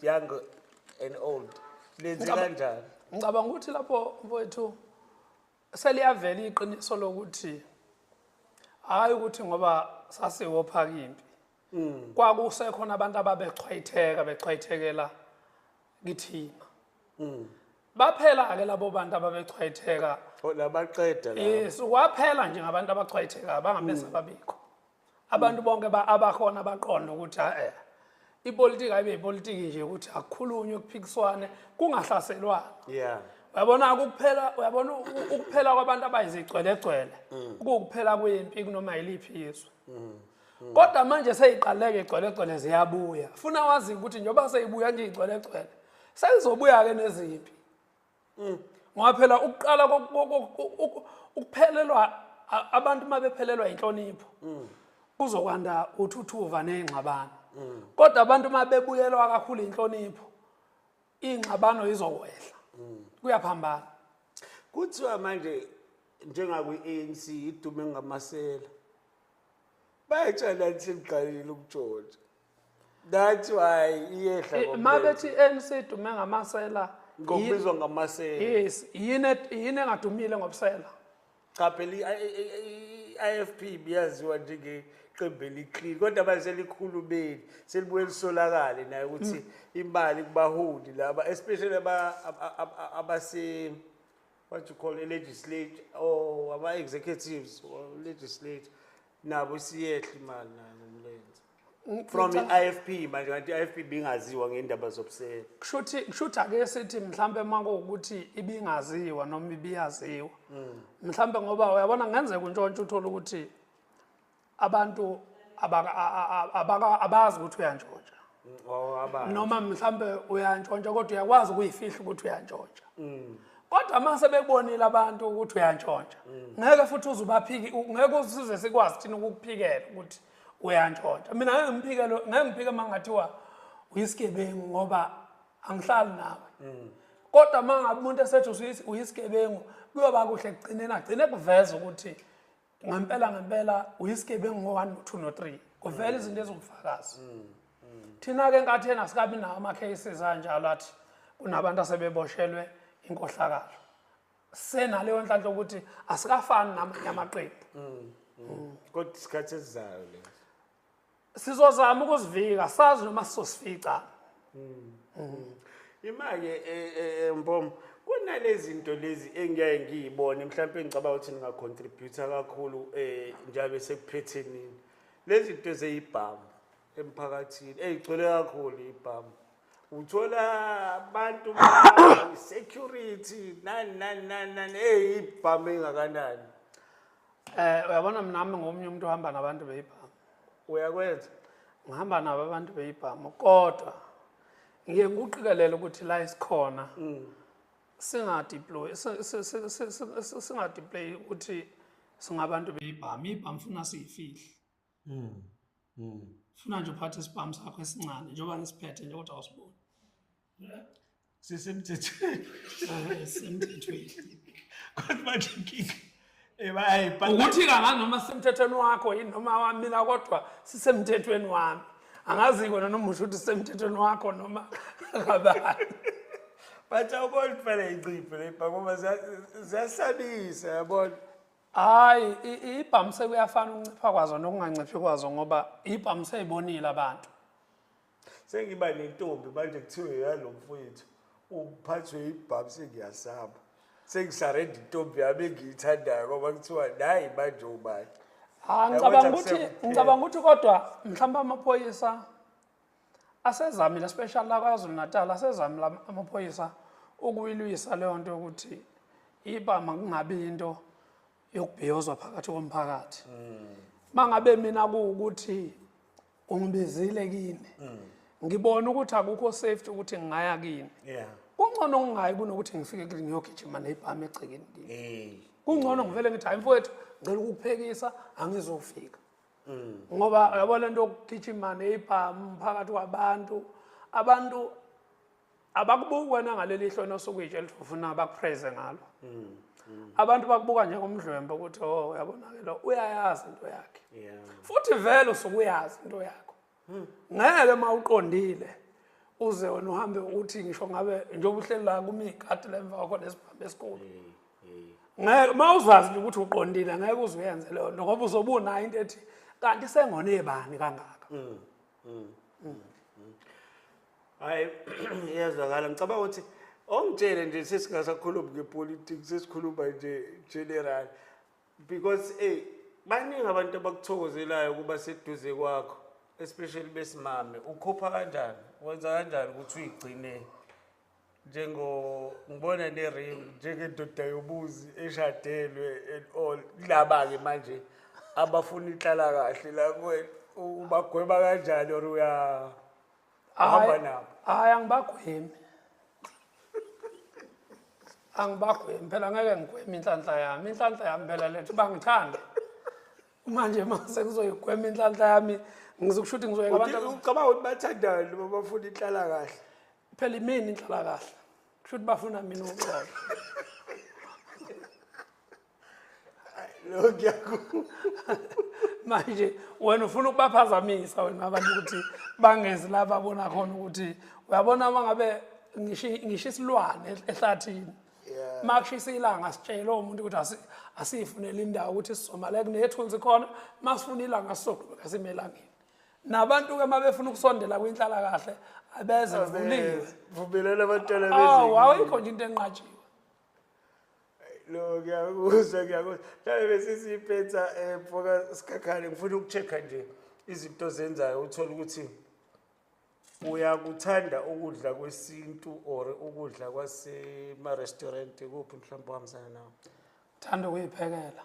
young and old lenze Ngicaba- kanjani ngicabanga ukuthi lapho mfowethu seliyavela iqiniso lokuthi hhayi ukuthi ngoba sasiwophaka impi kwakusekhona abantu ababechwayitheka bechwayithekela kithina baphela-ke labo bantu ababechwayitheka Oh, labaqeda la yes kwaphela nje ngabantu abachwayithekayo bangamese babikho abantu bonke abakhona baqonda ukuthi eh ipolitiki ayibe ipolitiki nje ukuthi akukhulunywe kuphikiswane kungahlaselwana yeah uyabona ukuphela uyabona ukuphela kwabantu abayizigcwelegcwele mm. ukuphela kwempi kunoma yiliphi izwe mm. Mm. kodwa manje seyiqaleke igcwelegcwele ziyabuya funa wazi ukuthi njengoba seyibuya nje igcwelegcwele seyizobuya-ke nezimpi Mm. ngoba phela ukuqala ukuphelelwa abantu uma bephelelwa yinhlonipho mm. kuzokwanda uthuthuva ney'ngxabano mm. kodwa abantu uma bebuyelwa kakhulu inhlonipho iy'ngxabano izokwehla kuyaphambana kuthiwa manje njengakwi-anc idume ngamasela bayatshela nhleliqalile ukutshotsha that's why iyehla eh, ngomlenze. mabethi ANC idume ngamasela ngokubizwa ngamasela yes yini yini engadumile ngobusela cha phela i-IFP biyaziwa njenge qembu eliqili kodwa manje selikhulumeli selibuye lisolakale naye ukuthi hmm. imali kubaholi laba especially abase what you call a legislature or ama-executives or legislature nabo siyehle imali nayo from i-ifp manje kanti i-ifp ibingaziwa ngendaba zobusela kushuthi kushuthi ake sithi mhlambe makuwukuthi ibingaziwa noma ibiyaziwa mm. mhlambe ngoba uyabona ngenzeka untshontsha uthole ukuthi abantu abazi ukuthi uyantshontsha mm, oh, noma mhlambe uyantshontsha kodwa uyakwazi ukuyifihla ukuthi uyantshontsha mm. kodwa uma sebebonile abantu ukuthi uyantshontsha ngeke futhi uzubaphiki ngeke usize sikwazi thina ukukuphikela ukuthi mm. uyantshontsha mina ngeke ngiphike lo ngeke ngiphike uma ngathiwa uyisigebengu ngoba angihlali nawe mm. kodwa uma ngabe umuntu esethi uyisigebengu kuyoba kuhle kugcineni agcine kuveza ukuthi ngempela ngempela uyisigebengu ngo-one no-two no-three kuvela mm. izinto ezingufakazi mm. thina-ke enkatheni asikabi nawo ama-cases anjalo athi kunabantu asebeboshelwe inkohlakalo senaleyo nhlanhla ukuthi asikafani namanye amaqembu mm, mm. kodwa isikhathi esizayo le sizozama ukuzivika sazi noma sizosifica mm, imake e, e, e, mbom kunalezi zinto lezi engiyeke ngiyibone mhlawumpe ngicabanga ukuthi ningacontributa kakhulu um njalo sekuphetheni lezi zinto zeyibhamu emphakathini eyigcwele kakhulu ibhamu uthola abantu security nani nani nani nani eyibhamu engakanani Eh uyabona mina nami ngomunye umuntu ohamba nabantu beyibhamu. Uyakwenza. Ngihamba nabo abantu beyibhamu kodwa ngiye ngikuqikelele ukuthi la isikhona. Mm. Singa deploy singa deploy ukuthi singabantu beyibhamu ibhamu funa siyifihle. mm. mm. funa nje uphathe isibhamu sakho esincane njengoba ngisiphethe nje kodwa awusiboni sisemthethweni eh, sisemthethweni kodwa manje inkinga eh, ukuthi kanganoma sisemthethweni wakho yini noma wamina kodwa sisemthethweni wami angazi kona noma usho ukuthi sisemthethweni wakho noma kabani bathi awubona phela inciphe le bhakoma ziyasabisa yabona hayi ibhamise kuyafana ukuncipha kwazo nokunganciphi kwazo ngoba ibhamise ibonile abantu sengiba nentombi manje kuthiwe yalo mfowethu uphathwe ibhamu sengiyasaba sengisarenda intombi yami engiyithandayo ngoba kuthiwa nayi manje ubani ah, ngicabanga ukuthi ngicabanga ukuthi kodwa mhlawumbe amaphoyisa asezamile especially la kwazulu natal asezamile amaphoyisa ukuyilwisa leyo nto yokuthi iba makungabi into yokubhiyozwa phakathi komphakathi mangabe mina kuwukuthi ungibizile kini ngibona ukuthi akukho safety ukuthi ngingaya kini yeah kungcono ngingayi kunokuthi ngifike kini ngiyogijima nebhami egcekeni kini kungcono ngivele ngithi hayi mfowethu ngicela ukukuphekisa angizofika mm. ngoba yabo le nto yokugijimane ibhamu phakathi kwabantu abantu abakubuki wena ngaleli hlo nosukwitshe elifuna bakupraise ngalo mm, mm. abantu bakubuka njengomdlwembe ukuthi o oh, uyabonakela uyayazi into yakhe futhi vele usuke uyazi into yakhe Hmm. ngeke uma uqondile uze wena uhambe uthi ngisho ngabe njengoba uhleli la kumi ikati la emva kwakho nesibhambi esikhulu ngeke uma uzazi nje ukuthi uqondile ngeke uze uyenze leyo nto ngoba uzobe unayo into ethi kanti sengone ebani kangaka mm, mm, mm, hayi iyazwakala ngicabanga ukuthi ongitshele nje sesingasakhulumi ngepolitiki sesikhuluma nje general because ey baningi abantu abakuthokozelayo ukuba seduze kwakho especially besimame ukhupha kanjani wenza kanjani ukuthi uyigcine njengo ngibona nerim njengendoda yobuzi eshadelwe and all kulaba-ke manje abafuna ihlala kahle la kuwena ubagweba kanjani or uya Hamba nabo. Hayi angibagwemi. Angibagwemi phela ngeke ngigweme inhlanhla yami. Inhlanhla yami phela lethu bangithanda. Manje mase kuzoyigwema inhlanhla yami ngizokushuthi ngizoyeka abantu ucabanga ukuthi bathandana noma bafuna inhlala kahle. Phela imini inhlala kahle. Kushuthi bafuna mina uxolo. manje wena ufuna ukubaphazamisa wena abantu ukuthi bangezi la babona khona ukuthi uyabona uma ngabe ngisho isilwane ehlathini uma kushisa ilanga sitshele umuntu ukuthi asiyifunele indawo ukuthi sizomale kunethunzi khona uma sifuna ilanga sizoqhubeka sime elangeni nabantu-ke uma befuna ukusondela kwinhlalakahle abeze vuliwe awayikho nje into enqatshiwe lo ngiyakuzwa ngiyakuzwa mhlawumbe besisiyiphetha um eh, mfoka sikhakhane ngifuna uku-check-a nje izinto ozenzayo uthole ukuthi uyakuthanda ukudla kwesintu or ukudla kwasema-restaurant kuphi mhlawumbe uhambisana nawo thanda ukuyiphekela